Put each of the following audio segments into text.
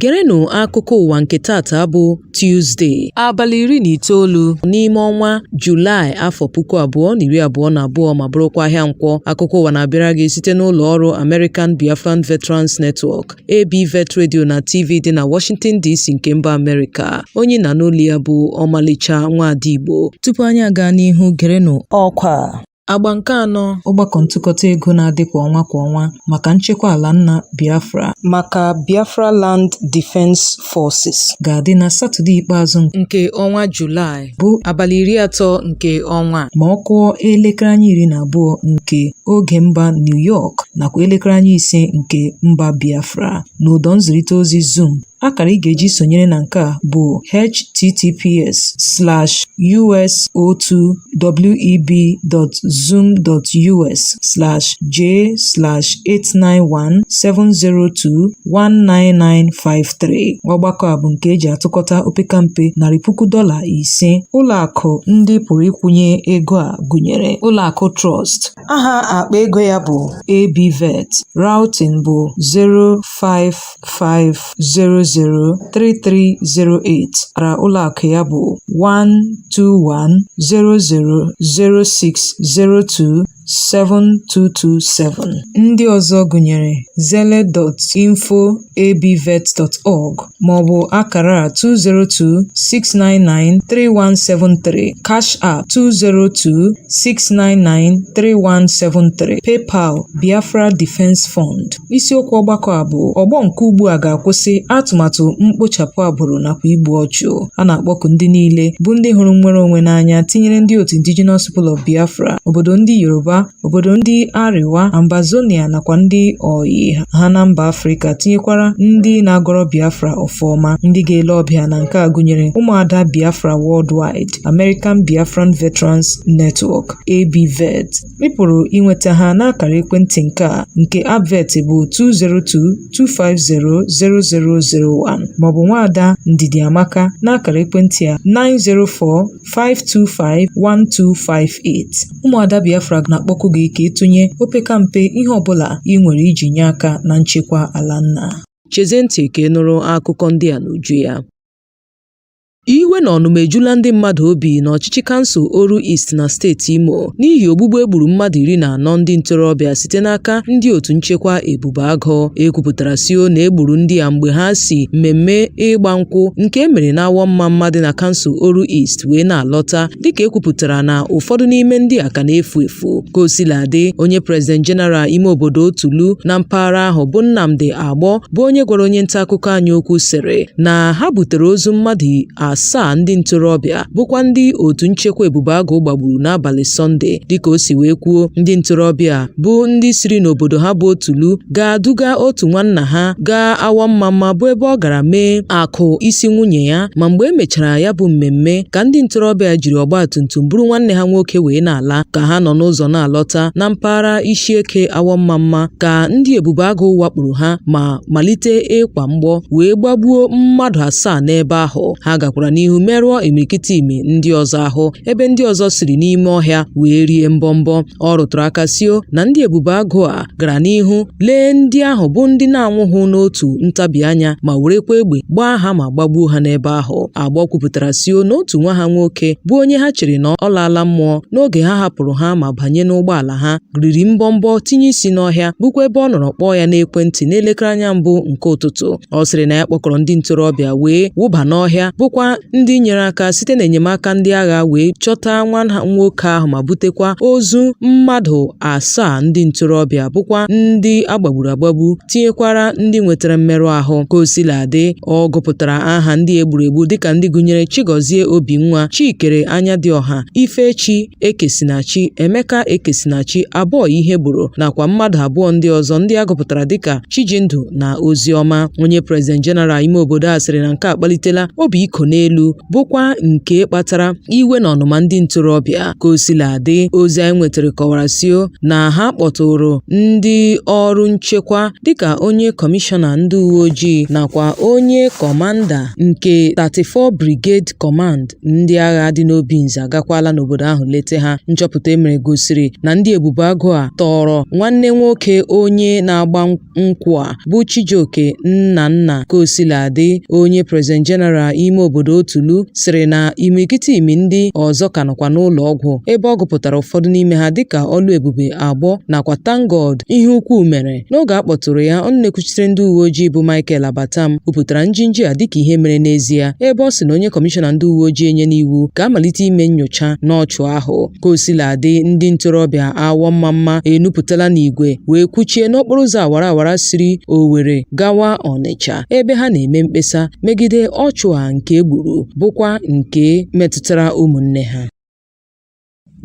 gerenụ akụkọ ụwa nke tata bụ Tuzde abalị iri na itoolu n'ime ọnwa Julaị afọ puku abụọ na iri abụọ na abụọ ma bụrụkwa ahịa nkwọ akụkọ ụwa na-abịara gị site n'ụlọ ọrụ American Biafran Veterans Network ABVET Radio na TV dị na Washington DC nke mba Amerịka onye ị na-anụ olu ya bụ ọmalịcha nwaada Igbo tupu anyị agaa n'ihu gerenụ ọkwa Agba nke anọ ọgbakọ ntụkọta ego na-adị kwa ọnwa kwa ọnwa maka nchekwa ala nna Biafra maka Biafra Land Defense Forces ga-adị na Satọde ikpeazụ nke ọnwa Julaị. bụ abalị iri atọ nke ọnwa ma ọ kụọ elekere anya iri na abụọ nke oge mba New York nakwa elekere anya ise nke mba Biafra n'ụdọ nzirịta ozi Zoom akara ị ga-eji sonyere na nke a bụ https slash us02web.zoom.us slash j slash 891 702 19953 ọgbakọ a bụ nke e ji atụkọta opekampe narị puku dọla ise ụlọakụ ndị pụrụ ịkwụnye ego a gụnyere ụlọakụ Trust aha akpa ego ya bụ ABVET routing bụ 055003308 akara ụlọakụ ya bụ 121000602 7227. Ndị ọzọ gụnyere Zelle info@abvet.org maọbụ akara a 202-699-3173, Cash App 202-699-3173, PayPal, Biafra Defense Fund. Isiokwu ọgbakọ a bụ ọgbọ nke ugbu a ga-akwụsị atụmatụ mkpochapụ agbụrụ nakwa igbu ọchụ. a na-akpọku ndị niile bụ ndị hụrụ nnwere onwe n'anya tinyere ndị otu Indigenous People of Biafra obodo ndị Yoruba obodo ndị Arewa Ambazonia nakwa ndị oyi ha na mba Afrịka tinyekwara ndị na-agọrọ Biafra ọfọ ọma ndị ga-ele ọbịa na nke a gụnyere ụmụada Biafra Worldwide American Biafran Veterans Network ABVET Ị pụrụ inweta ha n'akara ekwentị nke a nke Abvet bụ 202-250-0001 maọbụ nwaada Ndidiamaka n'akara ekwentị a 904-525-1258. Ụmụada Biafra na-akpọku gị ka ị tụnye opekampe ihe ọbụla ị nwere iji nye aka na nchekwa ala nna. Chezie ntị ka ị nụrụ akụkọ ndị a n'uju ya. Iwe na ọnụma ejula ndị mmadụ obi n'ọchịchị kansụl Oru East na steeti Imo n'ihi ogbugbu e gburu mmadụ iri na anọ ndị ntorobịa site n'aka ndị otu nchekwa Ebube Agụ. E kwupụtara sio na e gburu ndị a mgbe ha si mmemme ịgba nkwụ nke e mere n'Awọmmamma dị na kansụl Oru East wee na-alọta dịka e kwupụtara na ụfọdụ n'ime ndị a ka na-efu efu. Ka o sila dị, onye prezident jeneral ime obodo Otulu na mpaghara ahụ bụ Nnamdi Agbor bụ onye gwara onye nta akụkọ anyị okwu sịrị na ha butere ozu mmadụ asaa ndị ntorobịa bụkwa ndị otu nchekwa ebube agụ gbagburu n'abalị sọnde dịka o si wee kwuo ndị ntorobịa bụ ndị siri n'obodo ha bụ Otulu gaa duga otu nwanna ha gaa Awọmmamma bụ ebe ọ gara mee akụ isi nwunye ya ma mgbe e mechara ya bụ mmemme ka ndị ntorobịa jiri ọgbatumtum buru nwanne ha nwoke wee na-ala ka ha nọ n'ụzọ na-alọta na mpaghara Ishieke Awọmmamma ka ndị Ebubeagụ wakpuru ha ma malite ịkwa mgbọ wee gbagbuo mmadụ asaa n'ebe ahụ ha gakwara n'ihu merụọ imirikiti imi ndị ọzọ ahụ ebe ndị ọzọ siri n'ime ọhịa wee rie mbọmbọ ọ rụtụrụ aka sio na ndị ebube agụ a gara n'ihu lee ndị ahụ bụ ndị na-anwụghụ n'otu ntabi anya ma werekwa egbe gbaa ha ma gbagbuo ha n'ebe ahụ Agbọ kwupụtara sio na otu nwa ha nwoke bụ onye ha chere na ọ laala mmụọ n'oge ha hapụrụ ha ma banye n'ụgbọala ha riri mbọmbọ tinye isi n'ọhịa bụkwa ebe ọ nọrọ kpọọ ya n'ekwentị n'elekere anya mbụ nke ụtụtụ ọ sịrị na ya kpọkọrọ ndị ntorobịa wee wụba n'ọhịa bụkwa ndị nyere aka site n'enyemaka ndị agha wee chọta nwa ha nwoke ahụ ma butekwa ozu mmadụ asaa ndị ntorobịa bụkwa ndị a gbagburu agbagbu tinyekwara ndị nwetara mmerụ ahụ ka o sila dị ọ gụpụtara aha ndị e gburu egbu dịka ndị gụnyere Chigozie Obinwa Chikere Anyadịọha Ifechi Ekesinachi, Emeka Ekesinachi, Aboy Ihegboro nakwa mmadụ abụọ ndị ọzọ ndị a gụpụtara dịka Chijindu na Oziọma. Onye President General ime obodo a sịrị na nke a akpalitela obi iko n'elu bụkwa nke kpatara iwe na ọnụma ndị ntorobịa. Ka o sila dị, ozi anyị nwetara kọwara sio na ha kpọtụrụ ndị ọrụ nchekwa dịka onye kọmishọna ndị uwe ojii nakwa onye kọmanda nke 34 Brigade Command Ndị agha dị n'Obinze agakwala n'obodo ahụ lete ha. Nchọpụta e mere gosiri na ndị Ebube Agụ a tọọrọ nwanne nwoke onye na-agba nkwụ a bụ Chijioke Nnanna Ka o sila dị onye President General ime obodo Otulu sịrị na imirikiti imi ndị ọzọ ka nọkwa n'ụlọ ọgwụ ebe ọ gụpụtara ụfọdụ n'ime ha dịka Ọlụebube Agbọ nakwa Thank God Iheukwumere. N'oge a kpọtụrụ ya, ọnụ na-ekwuchitere ndị uwe ojii bụ Michael Abatam kwupụtara njinji a dịka ihe mere n'ezie, ebe ọ sị na onye kọmishọna ndị uwe ojii enyena iwu ka a malite ime nyocha n'ọchụ ahụ. Ka o sila dị, ndị ntorobịa Awọ Mmamma enupụtala n'igwe wee kwụchie n'okporo ụzọ awara awara siri Owere gawa Ọnịcha ebe ha na-eme mkpesa megide ọchụ a nke e gburu bụkwa nke metụtara ụmụnne ha.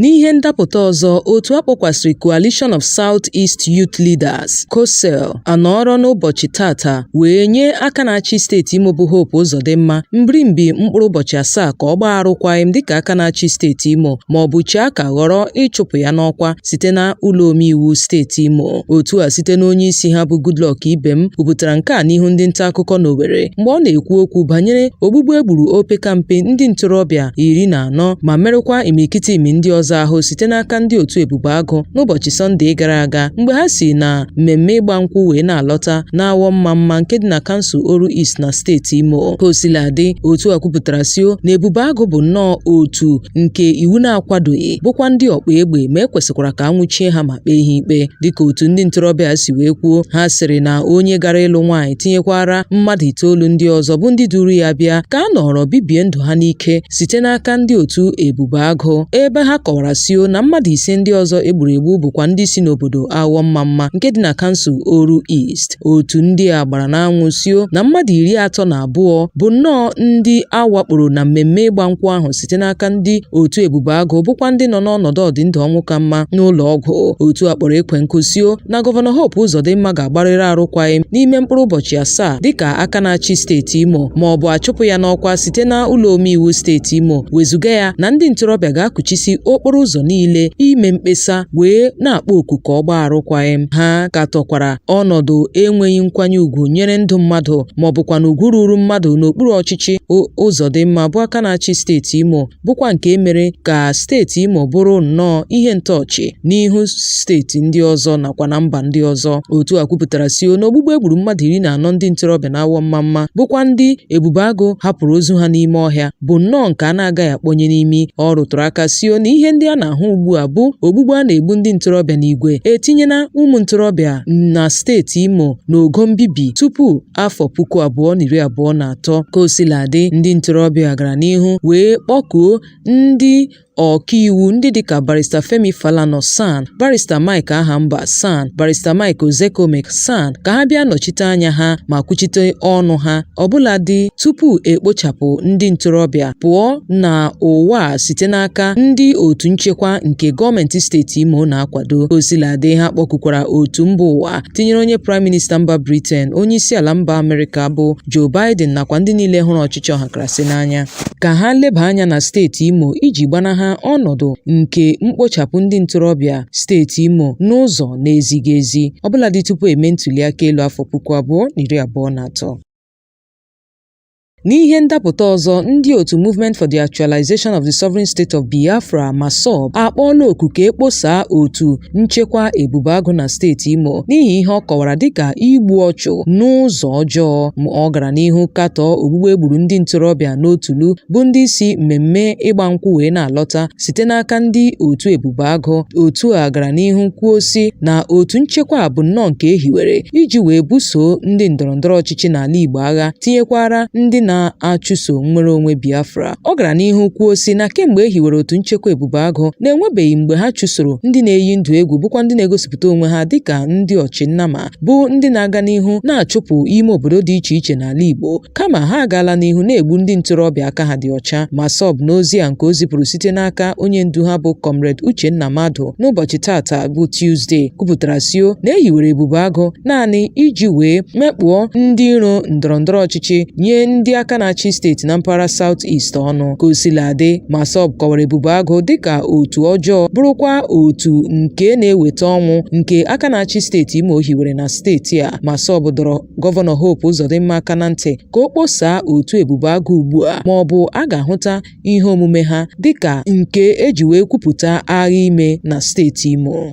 N'ihe ndapụta ọzọ, otu a kpọkwasịrị Coalition of South East Youth Leaders, COSEYL, anọọrọ n'ụbọchị tata wee nye aka na-achị steeti Imo bụ Hope Uzodimma mbirimbi mkpụrụ ụbọchị asaa ka ọ gbaa arụkwaghịm dịka aka na-achị steeti Imo ma ọ bụ chee aka ghọrọ ịchụpụ ya n'ọkwa site na ụlọ omeiwu steeti Imo. Otu a site n'onye isi ha bụ Goodluck Ibem kwupụtara nke a n'ihu ndị nta akụkọ n'Owerri mgbe ọ na-ekwu okwu banyere ogbugbu e gburu opekampe ndị ntorobịa iri na anọ ma merụkwa imirikiti imi ndị ọzọ ahụ site n'aka ndị otu Ebube Agụ n'ụbọchị Sọnde gara aga mgbe ha si na mmemme ịgba nkwụ wee na-alọta n'Awọ Mmamma nke dị na kansụl Oru East na steeti Imo ka o sila dị otu a kwupụtara sio na Ebube Agụ bụ nnọọ otu nke iwu na-akwadoghị bụkwa ndị ọkpa egbe ma e kwesịkwara ka a nwụchie ha ma kpee ha ikpe dịka otu ndị ntorobịa si wee kwuo ha sịrị na onye gara ịlụ nwaanyị tinyekwara mmadụ itoolu ndị ọzọ bụ ndị duru ya bịa ka a nọrọ bibie ndụ ha n'ike site n'aka ndị otu Ebube Agụ ebe ha kọwara sio na mmadụ ise ndị ọzọ e gburu egbu bụkwa ndị si n'obodo Awọ Mmamma nke dị na kansụl Oru East otu ndị a gbara n'anwụ sio na mmadụ iri atọ na abụọ bụ nnọọ ndị a wakporo na mmemme ịgba nkwụ ahụ site n'aka ndị otu Ebube Agụ bụkwa ndị nọ n'ọnọdụ ọdịndụ ọnwụ ka mma n'ụlọ ọgwụ otu a kpọrọ ekwe nkụ sio na Gọvanọ Hope Uzodimma ga-agbarịrị arụkwaghịm n'ime mkpụrụ ụbọchị asaa dịka aka na-achị steeti Imo ma ọ bụ a chụpụ ya n'ọkwa site na ụlọ omeiwu steeti Imo wezuga ya na ndị ntorobịa ga-akụchisi okporo ụzọ niile ime mkpesa wee na-akpọ oku ka ọ gbaa arụkwaghịm ha katọkwara ọnọdụ enweghị nkwanye ugwu nyere ndụ mmadụ ma ọ bụkwanụ ugwu ruru mmadụ n'okpuru ọchịchị Uzodimma bụ aka na-achị steeti Imo bụkwa nke e mere ka steeti Imo bụrụ nnọọ ihe ntọọchị n'ihu steeti ndị ọzọ nakwa na mba ndị ọzọ. Otu a kwupụtara sio na ogbugbu e gburu mmadụ iri na anọ ndị ntorobịa n'Awọ Mmamma bụkwa ndị Ebube Agụ hapụrụ ozu ha n'ime ọhịa bụ nnọọ nke a na-agaghị akpọnye n'imi. Ọ rụtụrụ aka sio na ihe ndị a na-ahụ ugbu a bụ ogbugbu a na-egbu ndị ntorobịa n'igwe etinyela ụmụ ntorobịa na steeti Imo n'ogo mbibi tupu afọ puku abụọ na iri abụọ na atọ. Ka o sila dị, ndị ntorobịa gara n'ihu wee kpọkuo ndị ọkaiwu ndị dịka Barrister Femi Falana SAN, Barrister Mike Ahamba SAN, Barrister Mike Ozekhome SAN ka ha bịa nọchite anya ha ma kwuchite ọnụ ha ọbụladị tupu e kpochapụ ndị ntorobịa pụọ na ụwa site n'aka ndị otu nchekwa nke gọọmenti steeti Imo na-akwado. Ka o sila dị, ha kpọkukwara otu mba ụwa tinyere onye praịm minista mba Britain, onye isi ala mba Amerịka bụ Joe Biden nakwa ndị niile hụrụ ọchịchị ọhakarasị n'anya ka ha leba anya na steeti Imo iji gbanaha ọnọdụ nke mkpochapụ ndị ntorobịa steeti Imo n'ụzọ na-ezighị ezi ọbụladị tupu eme ntuliaka elu afọ puku abụọ na iri abụọ na atọ. N'ihe ndapụta ọzọ, ndị otu Movement for the Actualization of the Sovereign State of Biafra, MASSOB, akpọọla oku ka e kposaa otu nchekwa Ebube Agụ na steeti Imo n'ihi ihe ọ kọwara dịka igbu ọchụ n'ụzọ ọjọọ. Ma ọ gara n'ihu katọọ ogbugbu e gburu ndị ntorobịa n'Otulu bụ ndị si mmemme ịgba nkwụ wee na-alọta site n'aka ndị otu Ebube Agụ. Otu a gara n'ihu kwuo sị na otu nchekwa a bụ nnọọ nke e hiwere iji wee buso ndị ndọrọndọrọ ọchịchị n'ala Igbo agha tinyekwara ndị na-achụso nnwere onwe Biafra. Ọ gara n'ihu kwuo sị na kemgbe e hiwere otu nchekwa Ebube Agụ na enwebeghị mgbe ha chụsoro ndị na-eyi ndụ egwu bụkwa ndị na-egosipụta onwe ha dịka ndị ọchịnnama bụ ndị na-aga n'ihu na-achụpụ ime obodo dị iche iche n'ala Igbo kama ha agaala n'ihu na-egbu ndị ntorobịa aka ha dị ọcha. MASSOB n'ozi a nke o zipụrụ site n'aka onye ndu ha bụ Comrade Uchenna Madu n'ụbọchị taata bụ Tuzdee kwupụtara sịo na e hiwere Ebube Agụ naanị iji wee mekpụọ ndị iro ndọrọndọrọ ọchịchị nye ndị aka na-achị steeti na mpaghara South East ọnụ ka o sila adị MASSOB kọwara Ebube Agụ dịka otu ọjọọ bụrụkwa otu nke na-eweta ọnwụ nke aka na-achị steeti Imo hiwere na steeti a MASSOB dọrọ gọvanọ Hope Uzodimma aka na ntị ka o kposaa otu Ebube Agụ ugbu a ma ọ bụ a ga-ahụta ihe omume ha dịka nke e ji wee kwupụta agha ime na steeti Imo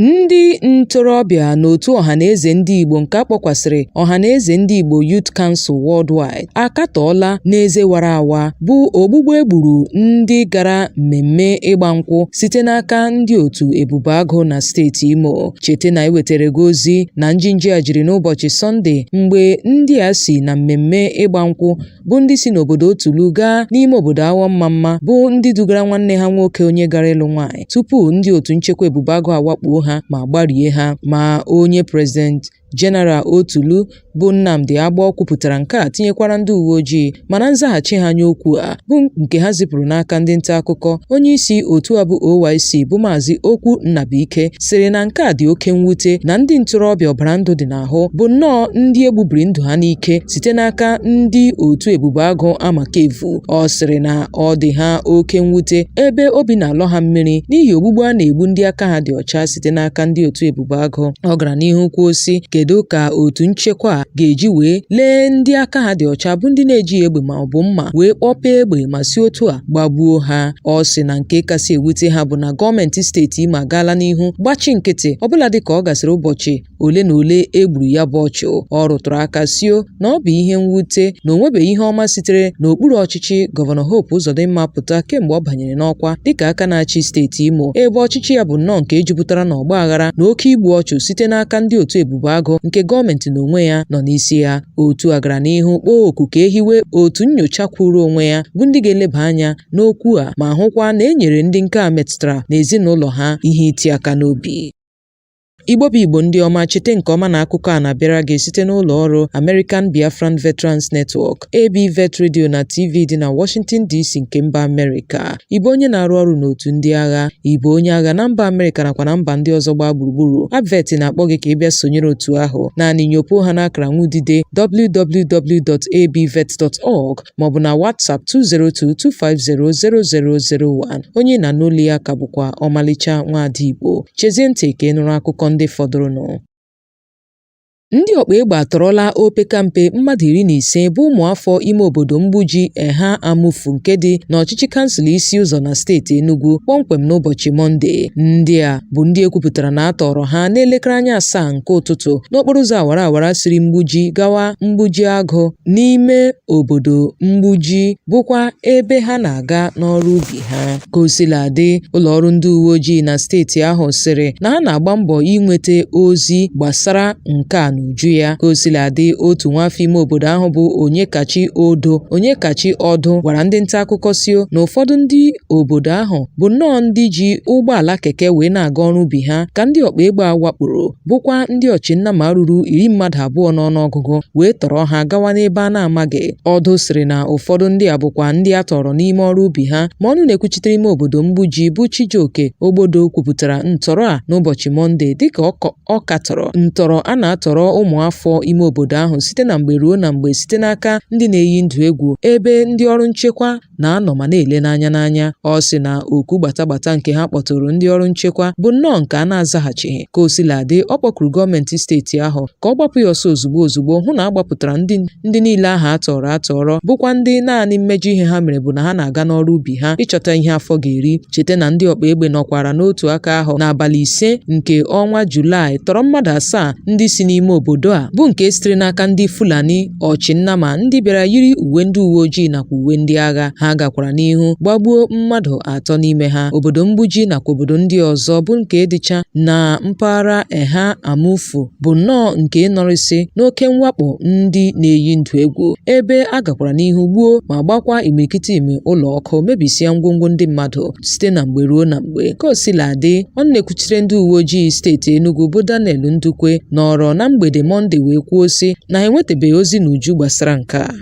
Ndị ntorobịa n'otu ọhanaeze ndị Igbo nke a kpọkwasịrị Ọhanaeze Ndị Igbo Youth Council Worldwide akatọọla n'eze wara awa bụ ogbugbu e gburu ndị gara mmemme ịgba nkwụ site n'aka ndị otu Ebube Agụ na steeti Imo. Cheta na anyị wetara gị ozi na njinji a jiri n'ụbọchị Sọnde mgbe ndị a si na mmemme ịgba nkwụ bụ ndị si n'obodo Otulu gaa n'ime obodo Awọmamma bụ ndị dugara nwanne ha nwoke onye gara ịlụ nwaanyị tupu ndị otu nchekwa ebube agụ awakpoo ha ma gbarie ha ma onye prezident Jeneral Otulu bụ Nnamdi Agbọ kwupụtara nke a tinyekwara ndị uwe ojii ma na nzaghachi ha nye okwu a bụ nke ha zipụrụ n'aka ndị nta akụkọ onye isi otu a bụ OYC bụ Maazị Okwu Nnabuike sịrị na nke a dị oke mwute na ndị ntorobịa ọbara ndụ dị na ahụ bụ nnọọ ndị egbubiri ndụ ha n'ike site n'aka ndị otu ebube agụ Amakevu. Ọ sịrị na ọ dị ha oke mwute ebe obi na-alọ ha mmiri n'ihi ogbugbu a na-egbu ndị aka ha dị ọcha site n'aka ndị otu ebube agụ. Ọ gara n'ihu kwuo sị kedu ka otu nchekwa ga-eji wee lee ndị aka ha dị ọcha bụ ndị na-ejighị egbe ma ọ bụ mma wee kpọpee egbe ma si otu a gbagbuo ha. Ọ sị na nke kasị ewute ha bụ na gọọmenti steeti Imo agaala n'ihu gbachi nkịtị ọbụladị ka ọ gasịrị ụbọchị ole na ole e gburu ya bụ ọchụ ọ rụtụrụ aka sio na ọ bụ ihe mwute na o nwebeghị ihe ọma sitere n'okpuru ọchịchị gọvanọ Hope Uzodimma pụta kemgbe ọ banyere n'ọkwa dịka aka na-achị steeti Imo ebe ọchịchị ya bụ nnọọ nke jupụtara na ọgba aghara na oke igbu ọchụ site n'aka ndị otu ebube agụ nke gọọmenti n'onwe ya nọ n'isi ya otu a gara n'ihu kpọọ oku ka e hiwe otu nyocha kwụụrụ onwe ya bụ ndị ga-eleba anya n'okwu a ma hụkwa na e nyere ndị nke a metụtara na ezinụlọ ha ihe iti aka n'obi Igbo bụ Igbo ndị ọma chete nke ọma na akụkọ a na-abịara gị site n'ụlọ ọrụ American Biafran Veterans Network, ABVET Radio na TV dị na Washington DC nke mba Amerịka. Ị bụ onye na-arụ ọrụ n'otu ndị agha, ị bụ onye agha na mba Amerịka nakwa na mba ndị ọzọ gbaa gburugburu. ABVET na-akpọ gị ka ị bịa sonyere otu ahụ. Naanị nyopuo ha n'akara nwudide www.abvet.org maọbụ na WhatsApp 202-250-0001. Onye ị na-anụ olu ya ka bụkwa ọmalịcha nwaada Igbo. Chezie ntị ka ị nụrụ akụkọ ndị fọdụrụnụ. Ndị ọkpa egbe atọrọla opekampe mmadụ iri na ise bụ ụmụafọ ime obodo Mgbuji Eha Amufu nke dị n'ọchịchị kansụl Isi Ụzọ na steeti Enugu kpọmkwem n'ụbọchị Mọnde. Ndị a bụ ndị e kwupụtara na a tọrọ ha n'elekere anya asaa nke ụtụtụ n'okporo ụzọ awara awara siri Mgbuji gawa Mgbuji Agụ n'ime obodo Mgbuji bụkwa ebe ha na-aga n'ọrụ ubi ha. Ka o sila dị, ụlọ ọrụ ndị uwe ojii na steeti ahụ sịrị na ha na-agba mbọ inweta ozi gbasara nke a n'uju ya. Ka o sila dị, otu nwafọ ime obodo ahụ bụ Onyekachi Odo Onyekachi Ọdụ gwara ndị nta akụkọ sio na ụfọdụ ndị obodo ahụ bụ nnọọ ndị ji ụgbọala keke wee na-aga ọrụ ubi ha ka ndị ọkpa egbe a wakporo bụkwa ndị ọchịnnama ruru iri mmadụ abụọ n'ọnụọgụgụ wee tọrọ ha gawa n'ebe a na-amaghị Ọdụ sịrị na ụfọdụ ndị a bụkwa ndị a tọrọ n'ime ọrụ ubi ha ma ọnụ na-ekwuchitere ime obodo Mgbuji bụ Chijioke Ogbodo kwupụtara ntọrọ a n'ụbọchị Mọnde dịka ọ katọrọ ntọrọ a na-atọrọ ụmụafọ ime obodo ahụ site na mgbe ruo na mgbe site n'aka ndị na-eyi ndụ egwu ebe ndị ọrụ nchekwa na-anọ ma na-ele n'anya n'anya ọ sị na oku gbatagbata nke ha kpọtụrụ ndị ọrụ nchekwa bụ nnọọ nke a na-azaghachighị ka o sila dị ọ kpọkuru gọọmenti steeti ahụ ka ọ gbapụ ya ọsọ ozugbo ozugbo hụ na a gbapụtara ndị ndị niile ahụ a tọrọ atọrọ bụkwa ndị naanị mmejọ ihe ha mere bụ na ha na-aga n'ọrụ ubi ha ịchọta ihe afọ ga-eri cheta na ndị ọkpa egbe nọkwara n'otu aka ahụ n'abalị ise nke ọnwa Julaị tọrọ mmadụ asaa ndị si n'ime obodo a bụ nke sitere n'aka ndị Fulani ọchị nnama ndị bịara yiri uwe ndị uwe ojii nakwa uwe ndị agha ha gakwara n'ihu gbagbuo mmadụ atọ n'ime ha obodo mgbuji nakwa obodo ndị ọzọ bụ nke dịcha na mpaghara eha amufu bụ nnọọ nke nọrịsị n'oke mwakpo ndị na-eyi ndụ egwu ebe a gakwara n'ihu gbuo ma gbakwa imirikiti ime ụlọ ọkụ mebisịa ngwongwo ndị mmadụ site na mgbe ruo na mgbe ka o sila dị ọnụ na-ekwuchite ndị uwe ojii steeti Enugu bụ Daniel Ndukwe nọrọ na mgbede Mọnde wee kwuo sị na ha enwetabeghị ozi n'uju gbasara nke a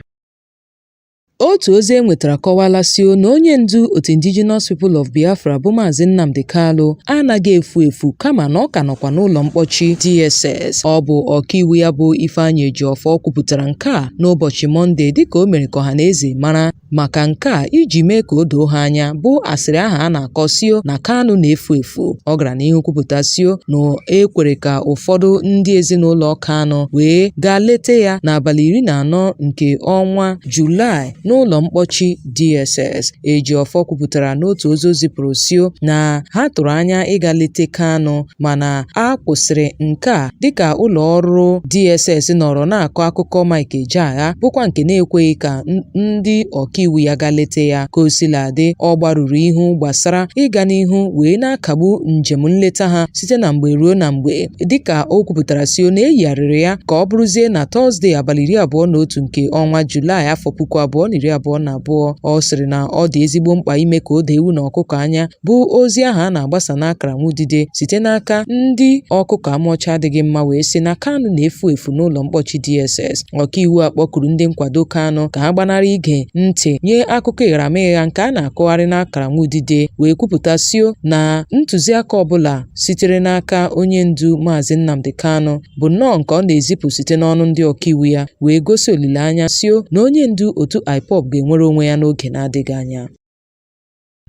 otu ozi e nwetara kọwala sio na onye ndu otu indigenous people of biafra bụ maazị nnamdi kalu anaghị efu efu kama na ọ ka nọkwa n'ụlọ mkpọchi dss ọ bụ ọkaiwu ya bụ ifeanyị ejiọfọ kwupụtara nke a n'ụbọchị mọnde dịka o mere ka ọha na eze mara Maka nke a, iji mee ka o doo ha anya, bụ asịrị ahụ a na-akọ sio na Kanu na-efu efu. Ọ gara n'ihu kwupụta sio na e kwere ka ụfọdụ ndị ezinụlọ Kanu wee gaa leta ya n'abalị iri na anọ nke ọnwa Julaị n'ụlọ mkpọchi DSS. Ejiofor kwupụtara n'otu ozi o zipụrụ sio na ha tụrụ anya ịga leta Kanu mana a kwụsịrị nke a dịka ụlọ ọrụ DSS nọrọ na-akọ akụkọ Mike Ejeagha bụkwa nke na-ekweghị ka ndị ọkaiwu ya gaa leta ya ka o sila dị ọ gbarụrụ ihu gbasara ịga n'ihu wee na-akagbu njem nleta ha site na mgbe ruo na mgbe dịka o kwupụtara sio na e yigharịrị ya ka ọ bụrụzie na Tọzdee abalị iri abụọ na otu nke ọnwa Julaị afọ puku abụọ na iri abụọ na abụọ ọ sịrị na ọ dị ezigbo mkpa ime ka o doo ewu na ọkụkọ anya bụ ozi ahụ a na-agbasa n'akara nwa udide site n'aka ndị ọkụkọ amụọcha adịghị mma wee sị na Kanu na-efu efu n'ụlọ mkpọchi DSS ọkaiwu a kpọkuru ndị nkwado Kanu ka ha gbanarị ige ntị nye akụkọ ịgharamịgha nke a na-akọgharị n'akara nwa udide wee kwupụta sio na ntụziaka ọbụla sitere n'aka onye ndu maazị Nnamdi Kanu bụ nnọọ nke ọ na-ezipụ site n'ọnụ ndị ọkaiwu ya wee gosi olileanya sio na onye ndu otu IPOB ga-enwere onwe ya n'oge na-adịghị anya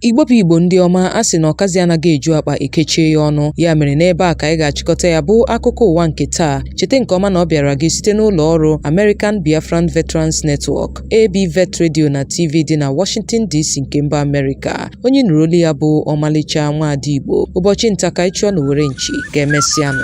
Igbo bụ Igbo ndị ọma a sị na ọkazi anaghị eju akpa e kechie ya ọnụ ya mere n'ebe a ka anyị ga-achịkọta ya bụ akụkọ ụwa nke taa cheta nke ọma na ọ bịara gị site n'ụlọ ọrụ American Biafran Veterans Network AB Vet Radio na TV dị na Washington DC nke mba Amerịka onye ị nụrụ olu ya bụ ọmalịcha nwaada Igbo ụbọchị nta ka ị chụọ n'owere nchi ka e mesịanụ